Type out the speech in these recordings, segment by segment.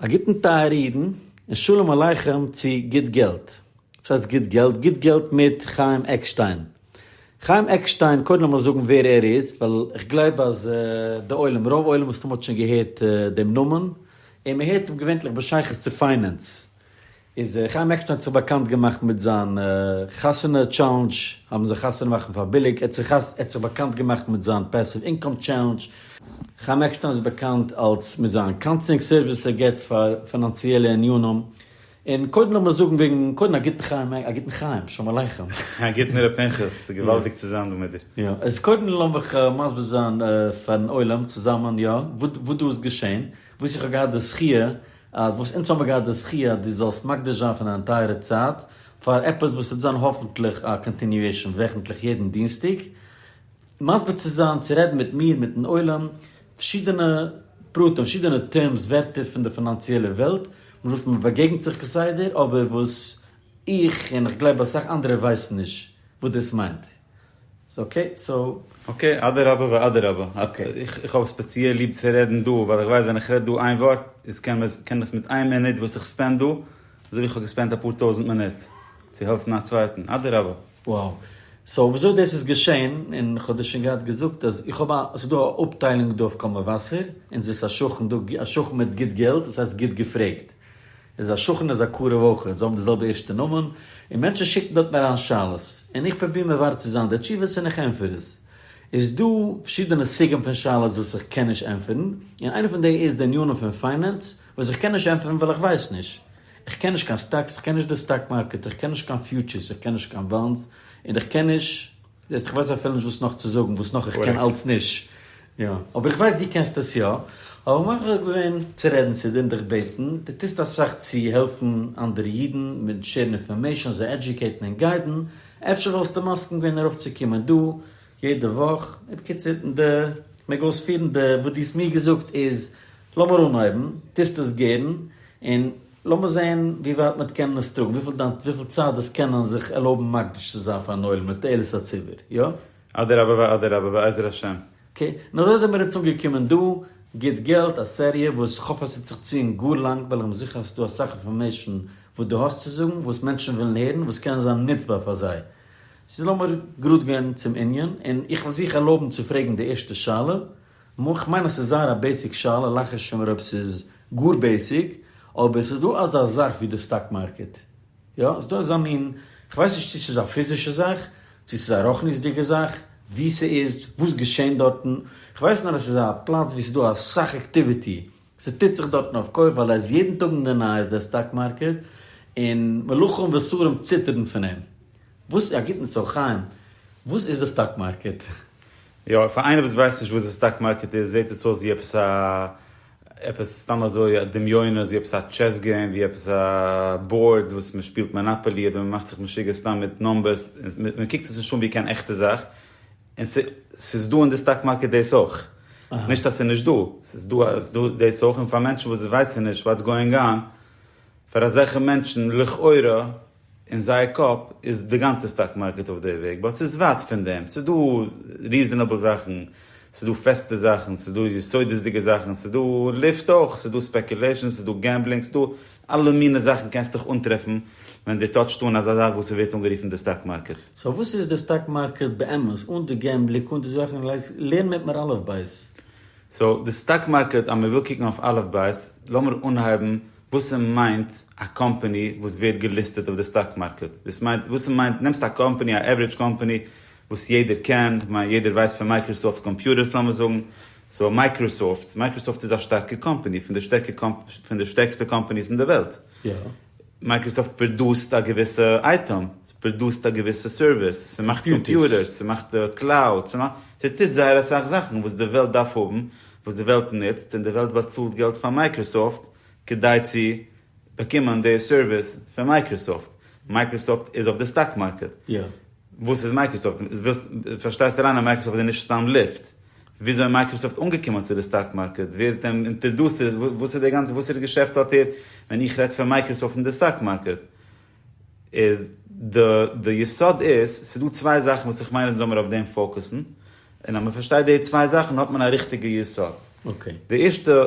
א גוטן טייערע אידן, און שלום עליכם צו גוט געלט. וואס הייסט גוט געלט? גוט געלט מיט חיים עקשטיין. חיים עקשטיין, קודם לאמיר זאגן ווער ער איז, ווייל איך גלייב אז די עולם, רוב עולם מסתם האט שוין געהערט דעם נאמען, און מען הערט אים געווענטליך בשייכות צו פיינענס. איז חיים עקשטיין האט זיך באקאנט געמאכט מיט זיין חתונה טשעלענדזש, האבן זיי חתונה מאכן פאר ביליג, ער האט זיך ער האט זיך באקאנט געמאכט מיט זיין פעסיוו אינקאם טשעלענדזש, חיים עקשטיין איז באקאנט אלס מיט זיין קאונסלינג סערוויס וואס ער גיבט פאר פינאנציעלע ענינים, און קודם לאמיר זאגן וועגן קודם א גוטן חיים א גוטן חיים שלום עליכם. א גוטן ר' פנחס, ס'געוואלדיג צו זיין דא מיט דיר. יא איז קודם לאמיך מסביר זיין פארן עולם צוזאמען יא וואס דא איז געשעהן, וואס איך האב געהאט די זכיה אז וואס אונז האבן געהאט די זכי' אז דו זאלסט מקדיש זיין פון דיין טייערע צייט פאר עפעס וואס וועט זיין האפענטליך א קאנטיניועישאן וועכענטליך יעדן דינסטאג מסביר צו זיין צו רעדן מיט מיר מיטן עולם פארשידענע פרטים פארשידענע טערמס ווערטער פון די פינאנציעלע וועלט מיט וואס מען באגעגנט זיך כסדר אבער וואס איך און איך גלייב אסאך אנדערע ווייסן נישט וואס דאס מיינט. אקעי סאו. אקעי, אדרבה ואדרבה. איך האב ספעציעל ליב צו רעדן דא, ווייל איך ווייס ווען איך רעד דא איין ווארט, איז קען איך מיט איין מינוט וואס איך ספענד דא, אזוי ווי איך האב געספענדט אפאר טויזנט מינוט צו העלפן א צווייטן. אדרבה. וואו. סאו וויאזוי דאס איז געשען, און איך האב דיר שוין געהאט געזאגט אז איך האב א, ס'איז דא א אפטיילונג דא אויף קול מבשר, אונז איז א שכן דא, א שכן מיט גוט געלט, דאס הייסט גוט געפרעגט. איז א שכן איז א קרוב אויכעט, זיי האבן די זעלבע ערשטע נאמען, און מענטשן שיקן דארטן אריין שאלות, און איך פרוביר מברר צו זיין די תשובות און איך ענטפער עס. איז דא פארשידענע סוגים פון שאלות וואס איך קען נישט ענטפערן, און איינע פון די איז די עניינים פון פיינענס, וואס איך קען נישט ענטפערן ווייל איך ווייס נישט. איך קען נישט קיין סטאקס, איך קען נישט די סטאק מארקעט, איך קען נישט קיין פיוטשערס, איך קען נישט קיין באנדס, און איך קען נישט. זעסט, איך ווייס אפילו נישט וואס נאך צו זאגן, וואס נאך איך קען אלץ נישט. יא, אבער איך ווייס דו קענסט עס יא, האב איך מוכרח געווען צו רעדן צו דיר און דיך בעטן, דו טוסט אסאך צו העלפן אנדערע אידן מיט שערן אינפארמעישאן, זיי עדיוקעיטן און גיידן, אפשר וואלסטו מסכים געווען ארויפצוקומען דא יעדע וואך? בקיצור, די, מעג אויספירן, די וואס דו האסט מיר געזאגט איז, לאמיר אנהויבן, טוסט עס גערן, און. לאמיר זעהן ווי ווייט מ'וועט קענען עס טראגן, וויפיל דיין וויפיל צייט דאס קענען זיך ערלויבן מקדיש צו זיין פארן עולם לתועלת הציבור, יא? אדרבה ואדרבה בעזר השם. אקעי, און אזוי זעמיר אונז אנגעקומען דא, גוט געלט, א סעריע וואס כ'האף עס וועט זיך ציען גאר לאנג ווייל איך בין זיכער אז ס'איז דא אסאך אינפארמעישן וואס דו האסט צו זאגן וואס מענטשן ווילן הערן וואס קען זיין נוצבאר פאר זיי. סאו לאמיר גראד גיין צום ענין, און איך וועל זיך ערלויבן צו פרעגן די ערשטע שאלה, מו איך מיין אז ס'איז זייער א בעיסיק שאלה, לאך איך שוין מיר אויב ס'איז גאר בעיסיק, אבער ס'איז דא אזא זאך ווי די סטאק מארקעט, יא, ס'איז דא אזא מין, כ'ווייס נישט צו ס'איז א פיזישע זאך, צו ס'איז א רוחניות'דיגע זאך, וואו ס'איז, וואס געשעהן דארטן, כ'ווייס נאר אז ס'איז א פלאץ וואו ס'איז דא אסאך עקטיוויטי, ס'טוט זיך דארטן אויף כח ווייל ער איז יעדן טאג אין די נייעס דער סטאק מארקעט, און מלאכים ושרים ציטערן פון אים. וואס, א גוטן צו חיים, וואס איז די סטאק מארקעט? יא, פאר איינער וואס ווייסט נישט וואס די סטאק מארקעט איז, זעט עס אויס ווי עפעס א, עפעס סתם אזוי א דמיון, אזוי ווי עפעס א טשעס געים, ווי עפעס א בארד וואס מען שפילט מאנאפאלי אדער מען מאכט זיך משוגע סתם מיט נומבערס, מען קוקט עס נישט אן ווי קיין עכטע זאך, און ס'איז דא אין די סטאק מארקעט דאס אויך. נישט אז ס'איז נישט דא. ס'איז דא אז ס'איז דא דאס אויך און פאר מענטשן וואס ווייסן נישט וואטס גאואינג אן, פאר אזעלכע מענטשן לכאורה אין זייער קאפ איז די גאנצע סטאק מארקעט אויף די וועג, באט ס'איז ווייט פון דעם. ס'איז דא ריזענעבל זאכן, ס'איז דא פעסטע זאכן, ס'איז דא יסודות'דיגע זאכן, ס'איז דא לופט אויך, ס'איז דא ספעקולעישאן, ס'איז דא געמבלינג, ס'איז דא אלע מינע זאכן קענסט דיך אנטרעפן ווען דו טאטשט אן אזא זאך וואס ס'ווערט אנגערופן די סטאק מארקעט. סאו וואס איז די סטאק מארקעט באמת? אן די געמבליק, אן די זאכן, לערן מיט מר. אלף בית. סאו די סטאק מארקעט, אז מ'וויל קוקן אויף אלף בית, לאמיר אנהייבן וואס ס'מיינט א קאמפאני וואס ווערט געליסטעט אויף די סטאק מארקעט. דאס מיינט, וואס ס'מיינט, נעמסט א קאמפאני, א עווערידזש קאמפאני, וואס יעדער קען, איך מיין יעדער ווייסט פון מייקראסאפט קאמפיוטערס לאמיר זאגן, סאו מייקראסאפט, מייקראסאפט איז א שטארקע קאמפעני, פון די שטערקע פון די שטערקסטע קאמפעניס אין די וועלט, מייקראסאפט פראדוסט א געוויסע אייטעם, ס'פראדוסט א געוויסע סערוויס, ס'מאכט קאמפיוטערס, ס'מאכט קלאוד, ס'טוט זייער אסאך זאכן וואס די וועלט דארף האבן, וואס די וועלט נוצט, און די וועלט באצאלט געלט פאר מייקראסאפט כדי צו באקומען די סערוויס פון מייקראסאפט, מייקראסאפט איז אויף די סטאק מארקעט, וואס איז מייקראסאפט? פארשטייסט אריין אז מייקראסאפט איז נישט סתם לופט, וויאזוי איז מייקראסאפט אנגעקומען צו די סטאק מארקעט, ווער האט אים אינטערדוסט, וואס איז די גאנצע, וואסערע געשעפט האט ער, ווען איך רעד פון מייקראסאפט און די סטאק מארקעט. איז די די יסוד איז, ס'דא צוויי זאכן וואס איך מיין אונז זאל מיר אויף דעם פאוקוסן, און אז מ'פארשטייט די צוויי זאכן האט מען א ריכטיגע יסוד. די ערשטע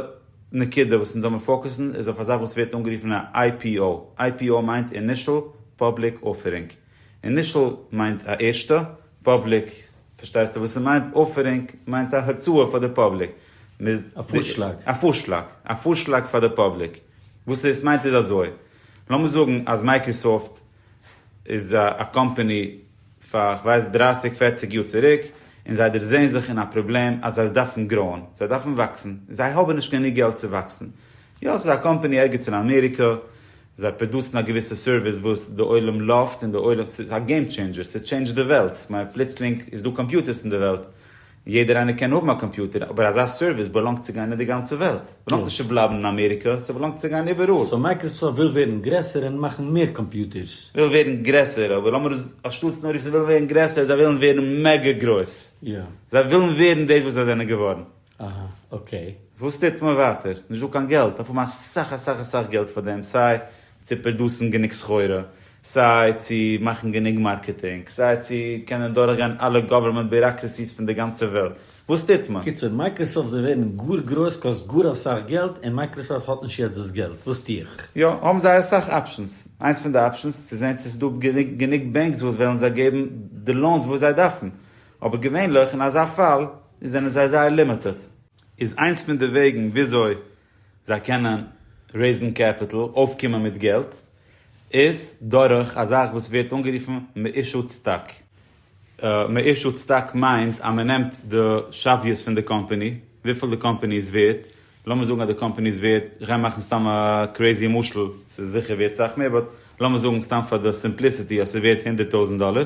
נקודה וואס אונז זאל מיר פאוקוסן איז אויף א זאך וואס ווערט אנגערופן א IPO, IPO מיינט אינישעל פאבליק אפערינג, אינישעל מיינט א ערשטע, פאבליק פארשטייסטו וואס ס'מיינט, אפערינג מיינט א הצעה פאר די פאבליק. א פארשלאג. א פארשלאג, א פארשלאג פאר די פאבליק. וואס דאס מיינט איז אזוי. לאמיר זאגן אז מייקראסאפט איז א קאמפעני פאר איך ווייס דרייסיג פערציג יאר צוריק און זיי דערזעהן זיך אין א פראבלעם אז זיי דארפן גראוען זיי דארפן וואקסן זיי האבן נישט גענוג געלט צו וואקסן יא ס'איז א קאמפעני ערגעץ אין אמעריקא זיי פראדוסן א געוויסע סערוויס וואס די עולם לאווט און די עולם ס'איז א געים טשעינדזשער ס'טשעינדזשט די וועלט כ'מיין פלוצלינג איז דא קאמפיוטערס אין די וועלט יעדער איינער קען האבן א קאמפיוטער, אבער אזא סערוויס באלאנגט צו גיין אין די גאנצע וועלט, באלאנגט נישט צו בלייבן אין אמעריקע, ס'באלאנגט צו גיין איבעראל. סאו מייקראסאפט וויל ווערן גרעסער און מאכן מער קאמפיוטערס? וויל ווערן גרעסער, אבער לאמיר עס אנשטאטס נאר רופן זיי ווילן ווערן גרעסער, זיי ווילן ווערן מעגא גרויס. יא. זיי ווילן ווערן דאס וואס זיי זענען געווארן. אהא, אקעי. וואס טוט מען ווייטער? נישט דא קיין געלט, דארף האבן אסאך אסאך אסאך געלט פאר דעם, סיי צו פראדוסן גענוג סחורה, סיי צו מאכן גענוג מארקעטינג, סיי צו קענען דורכגיין אלע גאווערמענט ביוראקרעסיס פון די גאנצע וועלט. וואס טוט מען? קיצור, מייקראסאפט זיי ווערן גאר גרויס קאסט גאר אסאך געלט, און מייקראסאפט האט נישט יעצט דאס געלט, וואס טו איך? יא, האבן זיי אסאך אפשענס. איינס פון די אפשענס איז צו זען צו עס איז דא גענוג גענוג בענקס וואס וועלן זיי געבן די לאונס וואס זיי דארפן. אבער געווענליך אין אזא פאל זענען זיי זייער לימיטעד. איז איינס פון די וועגן וויאזוי זיי קענען רעיזן קעפיטעל, אויפקומען מיט געלט. איז דורך א זאך וואס ווערט אנגערופן מאישו צדק. מאישו צדק מיינט אז מען נעמט די שוויות פון די קאמפאני, וויפיל די קאמפאני איז ווערט, לאמיר זאגן אז די קאמפאני איז ווערט, איך גיי מאכן סתם א קרעיזי משל, ס'איז זיכער ווערט סאך מער, באט לאמיר זאגן סתם פאר די סימפליסיטי אז ס'איז ווערט הונדערט טויזנט דאלער,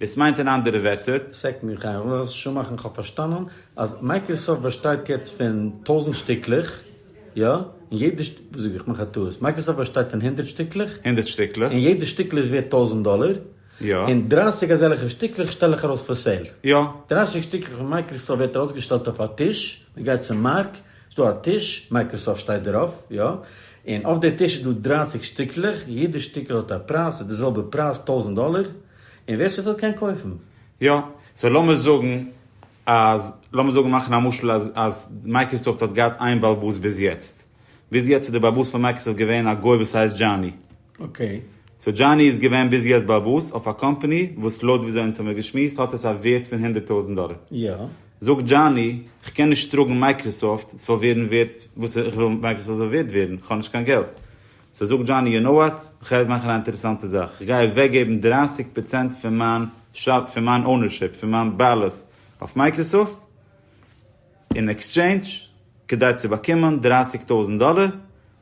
דאס מיינט אין אנדערע ווערטער. סעק מיר חיים און ר' שומאכער איך האב פארשטאנען אז מייקראסאפט באשטייט יעצט פון טויזענט שטיקלעך יא? און יעדע שט. וואס זאג איך? מאך א טעות. מייקראסאפט באשטייט פון הונדערט שטיקלעך? הונדערט שטיקלעך. און יעדע שטיקל איז ווערט טויזענט דאלער? יא. און דרייסיג אזעלכע שטיקלעך שטעל איך ארויס פאר סעיל? יא. דרייסיג שטיקלעך פון מייקראסאפט ווערט ארויסגעשטעלט אויף א טיש, מען גייט צום מארק, ס'דא א טיש, מייקראסאפט שטייט דערויף, יא, און אויף די טיש איז דא דרײַסיק שטיקלעך, יעדע שטיקל האט א פרייז, ס'איז די זעלבע פרייז, טויזנט דאלער, און ווער ס'וויל קען קויפן. יא, סאו לאמיר זאגן אז, לאמיר זאגן מאכן א משל אז אז מייקראסאפט האט געהאט איין בעל בית ביז יעצט, ביז יעצט איז די בעל בית פון מייקראסאפט געווען א גוי וואס הייסט דזשאני, אקעי. סאו דזשאני איז געווען ביז יעצט באבוס אויף א קאמפאני וואס לויט וויאזוי אונז האמיר געשמועסט האט עס א ווערט פון הונדערט טויזענט דאלער. יא. זאגט דזשאני, כ'קען נישט טראגן מייקראסאפט, ס'זאל ווערן ווערט וואס איך וויל מייקראסאפט זאל ווערט ווערן, כ'האב נישט קיין געלט. סאו זאגט דזשאני, יו נאו וואט, כ'גיי אונז מאכן א אינטערעסאנטע זאך, כ'גיי אוועקגעבן דרײַסיק פראצענט פון מיין שאר, פון מיין אונערשיפ, פון מיין בעלות אויף מייקראסאפט, אין עקסטשעינדזש כדי צו באקומען דרייסיג טויזנט דאלער,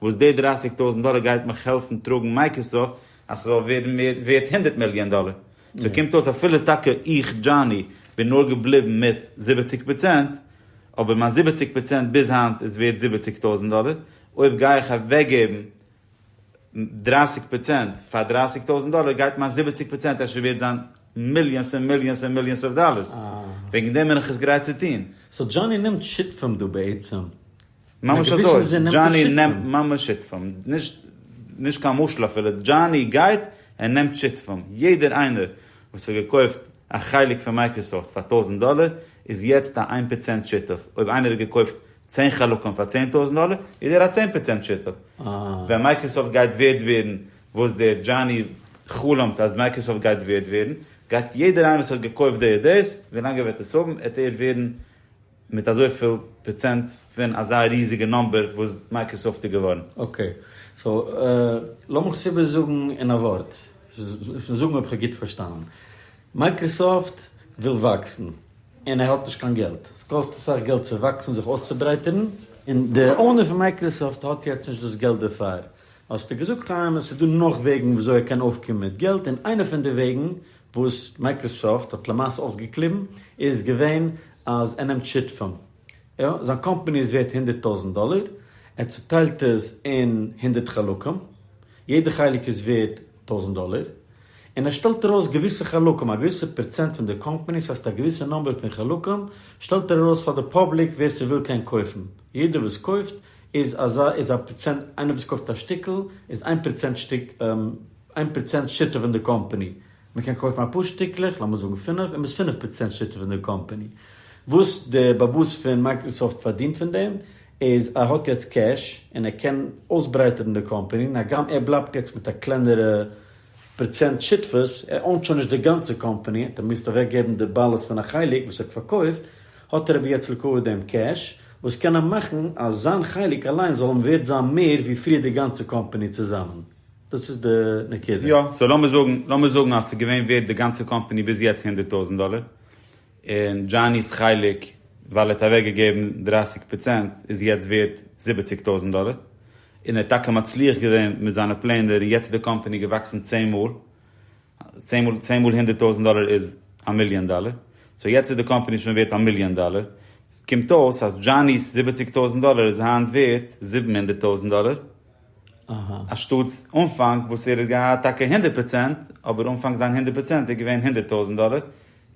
וואס די דרייסיג טויזנט דאלער גייט מיך העלפן טראגן מייקראסאפט אז ס'זאל ווערן מער ווערט הונדערט מיליאן דאלער. סאו קומט אויס אפילו טאקע איך דזשאני בין נאר געבליבן מיט זיבעציג פראצענט, אבער מיין זיבעציג פראצענט ביז היינט איז ווערט זיבעציג טויזנט דאלער, אויב גיי איך אוועקגעבן דרייסיג פראצענט פאר דרייסיג טויזענט דאלער גייט מיין זיבעציג פראצענט אפשר ווערט זיין מיליאנס און מיליאנס און מיליאנס אוו דאלערס, וועגן דעם בין איך עס גרייט צו טוהן. סאו דזשאני נעמט שותפים דא בעצם? ממש אזוי, דזשאני נעמט ממש שותפים, נישט קיין משל אפילו, דזשאני גייט און נעמט שותפים, יעדער איינער וואס האט געקויפט א חלק פון מייקראסאפט פאר טויזענט דאלער איז יעצט א איין פראצענט שותף, אויב איינער האט געקויפט צען חלקים פאר צען טויזנט דאלער איז ער א צען פראצענט שותף. ווען מייקראסאפט גייט ווערד ווערן וואס דער דזשאני חלומ'ט אז מייקראסאפט גייט ווערד ווערן, גייט יעדער איינער וואס האט געקויפט די עדס, ווילאנג ער וועט עס האבן, עט ער ווערן מיט אזויפיל פראצענט פון אזא ריזיגע נאמבער וואס מייקראסאפט איז געווארן. אקעי. סאו, לאמיך עס איבערזאגן אין א ווארט, זאג מיר אויב כ'האב גוט פארשטאנען. מייקראסאפט וויל וואקסן. און ער האט נישט קיין געלט, עס קאסט אסאך געלט צו וואקסן זיך אויסצוברייטערן, און די אונער פון מייקראסאפט האט יעצט נישט דאס געלט דערפאר, האסטו געזאגט חיים עס איז דא נאך וועגן ווי אזוי ער קען אויפקומען מיט געלט, און איינע פון די וועגן וואס מייקראסאפט האט למעשה אויסגעקליבן איז געווען אז ער נעמט שיתפים, יא זיין קאמפאני איז ווערט הונדערט טויזענט דאלער, ער צוטיילט עס אין הונדערט חלקים, יעדע חלק איז ווערט טויזענט דאלער, און ער שטעלט ארויס געוויסע חלקים, א געוויסע פראצענט פון די קאמפאניס, הייסט א געוויסע נומבער פון חלקים, שטעלט ער ארויס פאר די פאבליק ווער ס'וויל קען קויפן, יעדער וואס קויפט איז אזא איז א פראצענט, איינער וואס קויפט א שטיקל איז איין פראצענט שטיק איין פראצענט שותף אין די קאמפאני, מ'קען קויפן אפאר שטיקלעך, לאמיר זאגן פינף, איז מען פינף פראצענט שותף אין די קאמפאני, וואס די באבוס פון מייקראסאפט פארדינט פון דעם איז ער האט יעצט קעש און ער קען אויסברייטערן די קאמפאני, הגם ער בלייבט יעצט מיט א קלענערע פראצענט שותפות, ער אוינט שוין נישט די גאנצע קאמפאני, ער מוזט אוועק געבן די בעלות פון א חלק וואס ער האט פארקויפט, האט ער אבער יעצט ליקויעט דעם קעש, וואס קען אים מאכן אז זיין חלק אליין זאל אים ווערט זיין מער ווי פריער די גאנצע קאמפאני צוזאמען. דאס איז די נקודה. יא, סאו לאמיר זאגן, לאמיר זאגן אז ס'איז געווען ווערט די גאנצע קאמפאני ביז יעצט הונדערט טויזנט דאלער, און דזשאני'ס חלק ווייל ער האט אוועק געגעבן דרייסיג פראצענט איז יעצט ווערט זיבעציג טויזענט דאלער, און ער האט טאקע מצליח געווען מיט זיינע פלענער און יעצט איז די קאמפאני געוואקסן צען מאל, צען מאל צען מאל הונדערט טויזענט דאלער איז א מיליאן דאלער, סאו יעצט איז די קאמפאני שוין ווערט א מיליאן דאלער, קומט אויס אז דזשאני'ס זיבעציג טויזענט דאלער איז היינט ווערט זיבן הונדערט טויזענט דאלער, אנשטאט אנפאנג וואס ער האט געהאט טאקע הונדערט פראצענט, אבער אנפאנג זיין הונדערט פראצענט איז געווען הונדערט טויזענט דאלער,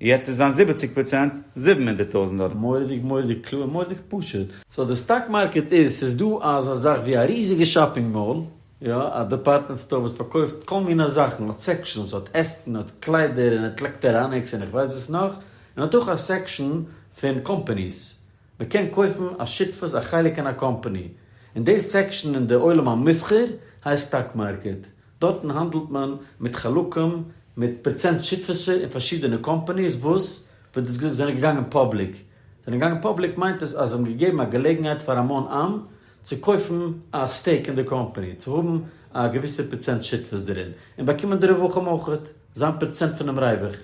יעצט איז זיין זיבעציג פראצענט זיבן הונדערט טויזענט דאלער. מוראדיג מוראדיג קלאר מוראדיג פשוט. סאו די סטאק מארקעט איז, ס'איז דא אזא זאך ווי א ריזיגע שאפינג מאל, יא, א דעפארטמענט סטאר וואס פארקויפט כל מיני זאכן, האט סעקשאנס, האט עסקן, האט קליידער, און האט לעקטעראניקס, און איך ווייס וואס נאך, און האט אויך א סעקשאן פון קאמפאניס, מען קען קויפן א שותפות א חלק אין א קאמפאני, און די סעקשאן אין די עולם המסחר הייסט סטאק מארקעט, דארטן האנדלט מען מיט חלקים מיט פראצענט שותפות'ער אין פארשידענע קאמפאניס וואס, ווי דאס געזאגט, זענען געגאנגען פאבליק, זענען געגאנגען פאבליק מיינט עס אז זיי האבן געגעבן א געלעגנהייט פאר המון עם צו קויפן א סטעיק אין די קאמפאני, צו האבן א געוויסע פראצענט שותפות דערין, און באקומען די רווחים אויך, זיין פראצענט פונעם רווח,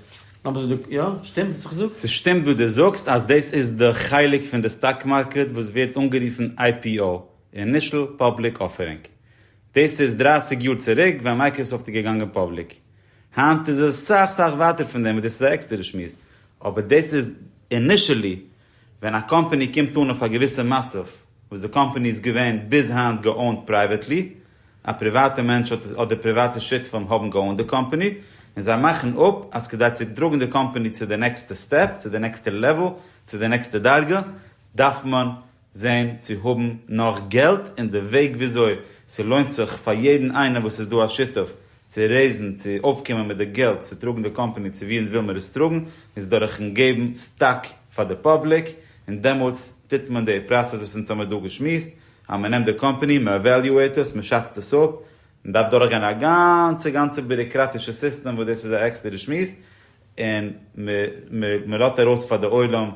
לאמיר זאגן די, יא? שטימט וואס איך זאג? ס'שטימט וואס דו זאגסט אז דאס איז די חלק פון די סטאק מארקעט וואס ווערט אנגערופן IPO, אינישעל פאבליק אפערינג. דאס איז דרײַסיק יאר צוריק ווען מייקראסאפט איז געגאנגען פאבליק. היינט איז עס סאך סאך ווייטער פון דעם און דאס איז א עקסטערע שמועס. אבער דאס איז אינישעלי ווען א קאמפאני קומט אן אויף א געוויסע מצב וואס די קאמפאני איז געווען ביז היינט געאונט פרייוועטלי, א פריוואטע מענטש אדער פריוואטע שותפים האבן געאונט די קאמפאני, און זיי מאכן אפ אז כדי צו טראגן די קאמפאני צו די נעקסטע סטעפ, צו די נעקסטע לעוועל, צו די נעקסטע דרגה, דארף מען זען צו האבן נאך געלט, און די וועג וויאזוי ס'לוינט זיך פאר יעדן איינער וואס איז דא א שותף צו רעיזן, צו אויפקומען מיט די געלט צו טראגן די קאמפאני צו ווי אונז וויל מיר עס טראגן, איז דורכן געבן סטאק פאר די פאבליק, און דעמאלטס טוט מען די פראסעס וואס אונז האמיר דא געשמועסט, אז מען נעמט די קאמפאני, מען עוועליועט עס, מען שאצט עס אפ, מען דארף דורכגיין א גאנצע גאנצע ביוראקראטישע סיסטעם וואס דאס איז א עקסטערע שמועס, און מען לאזט ארויס פאר די עולם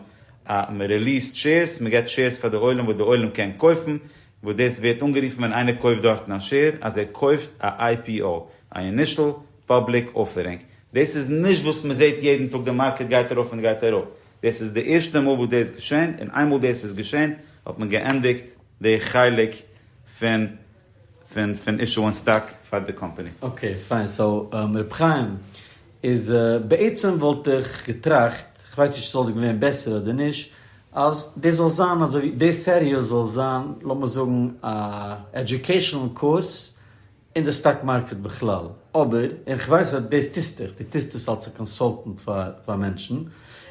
א מען ריליעסט שעירס מען געט שעירס פאר די עולם וואס די עולם קען קויפן וואס דאס ווערט אנגערופן ווען איינער קויפט דארטן א שעיר אז ער קויפט א IPO א אינישעל פאבליק אפערינג דאס איז נישט וואס מען זעט יעדן טאג די מארקעט גייט ארויף און גייט אראפ דאס איז די ערשטע מאל וואס דאס געשענט און איינמאל דאס איז געשען האט מען געענדיגט די חלק פון פון פון אישוען סטאק פאר די קאמפאני. אקעי פיין סאו ר' חיים איז בעצם וואלט איך געטראכט, כ'ווייס נישט ס'וואלט געווען בעסער אדער נישט, אז דאס זאל זיין אזוי די סעריע זאל זיין לאמיר זאגן א עדיוקעישאנעל קורס אין די סטאק מארקעט בכלל, אבער און כ'ווייס אז דאס טוסטוך, דו טוסט עס אלס א קאנסאלטענט פאר פאר מענטשן,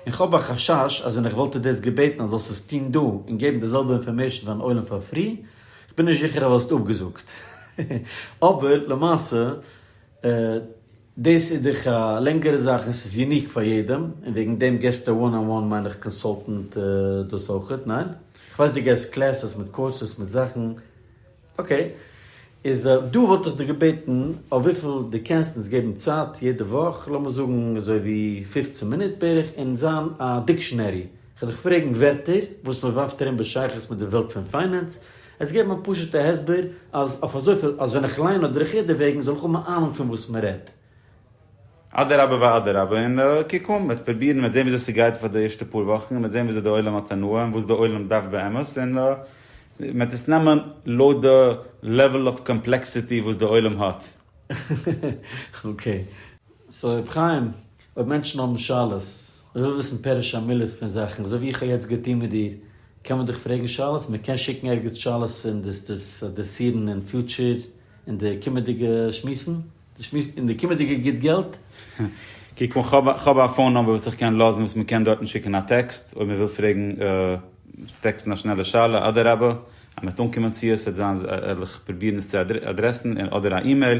און כ'האב א חשש אז ווען איך וואלט דיר דאס געבעטן אז זאלסט עס טון דא און געבן די זעלבע אינפארמעישאן פארן עולם פאר פרי, כ'בין נישט זיכער אז וואלסט אפגעזאגט. אבער למעשה דאס איז דאך א לענגערע זאך און ס'איז יוניק פאר יעדעם, און וועגן דעם געסטו וואן אן וואן מיין איך קאנסאלטענט דאס אויכעט, ניין? כ'ווייס דו געסט קלעסעס מיט קאורסעס מיט זאכן, אקעי. איז דא וואלט איך דיך געבעטן אויף וויפיל דו קענסט אונז געבן צייט יעדע וואך, לאמיר זאגן אזוי ווי פֿופֿצן מינוט בערך, און זיין א דיקשענערי כ'על דיך פרעגן ווערטער וואס מ'ווארפט ארום בשייכות מיט די וועלט פון פיינענס, עס געבן א פשוט'ע הסבר אז אויף אזויפיל אז ווען איך ליין אדער איך הער דערוועגן זאל איך האבן א אהנונג פון וואס מ'רעדט. אדרבה ואדרבה און קוק אן, מ'וועט פרובירן, מ'וועט זען וויאזוי ס'גייט פאר די ערשטע פאר וואכן, מ'וועט זען וויאזוי די עולם האט הנאה און וואס די עולם דארף באמת, און מ'וועט עס נעמען לויט די לעוועל אוו קאמפלעקסיטי וואס די עולם האט. אקעי. סאו ר' חיים, אויב מענטשן האבן שאלות, אויב וויל וויסן פירוש המילות פון זאכן, אזוי ווי איך האב יעצט געטון מיט דיר, קען מען דיך פרעגן שאלות, מען קען שיקן ערגעץ שאלות און דאס דאס אדרעסירן אין פיוטשער אין די קומעדיגע שמועסן, די שמועס אין די קומעדיגע גיט געלט. קוק אן, כ'האב כ'האב א פאון נומבער וואס איך קען לאזן וואס מען קען דארטן שיקן א טעקסט אויב מען וויל פרעגן טעקסטן א שנעלע שאלה, אדרבה אז מען וועט אנקומען צו עס וועט זיין וועל איך פרובירן עס צו אדרעסן, אדער א אימעיל.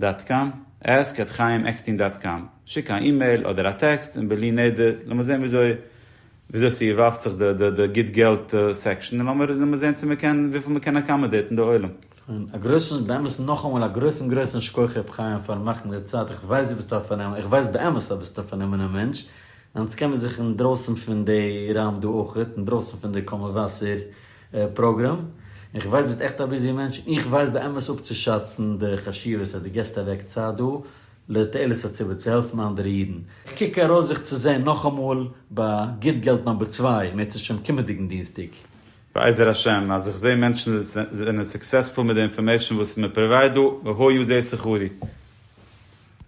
דאט קאם, עסק עט חיים עקסטין דאט קאם, שיק א אימעיל אדער א טעקסט און בלי נדר לאמיר זען וויאזוי וויאזוי ס'יבאפט זיך די די די גיט געלט סעקשאן און לאמיר לאמיר זען צו מען קען וויפיל מען קען עקאמאדעיטן די עולם. און א גרויסן באמת נאכאמאל א גרויסן גרויסן שכוח ר' חיים פארן מאכן די צייט איך ווייס דו ביסט א פארנעם איך ווייס באמת אז ביסט א פארנומענע מענטש און אונז קען מיר זיך אינדרויסן פון די ראם דא אויכעט אינדרויסן פון די קאמאוואסער פראגראם, איך ווייס ביסט עכט א ביזי מענטש, און איך ווייס באמת אפצושאצן די חשיבות אז דו געסט אוועק צייט דא לתועלת הציבור צו העלפן אנדערע אידן, איך קוק ארויס זיך צו זען נאכאמאל ביי גוט געלט נאמבער צוויי, מער צו שם קומענדיגן דינסטאג. בעזר השם אז איך זעה מענטשן זענען סוקסעספול מיט די אינפארמעישן וואס מען פראווייד דא, והא יזע שכרי.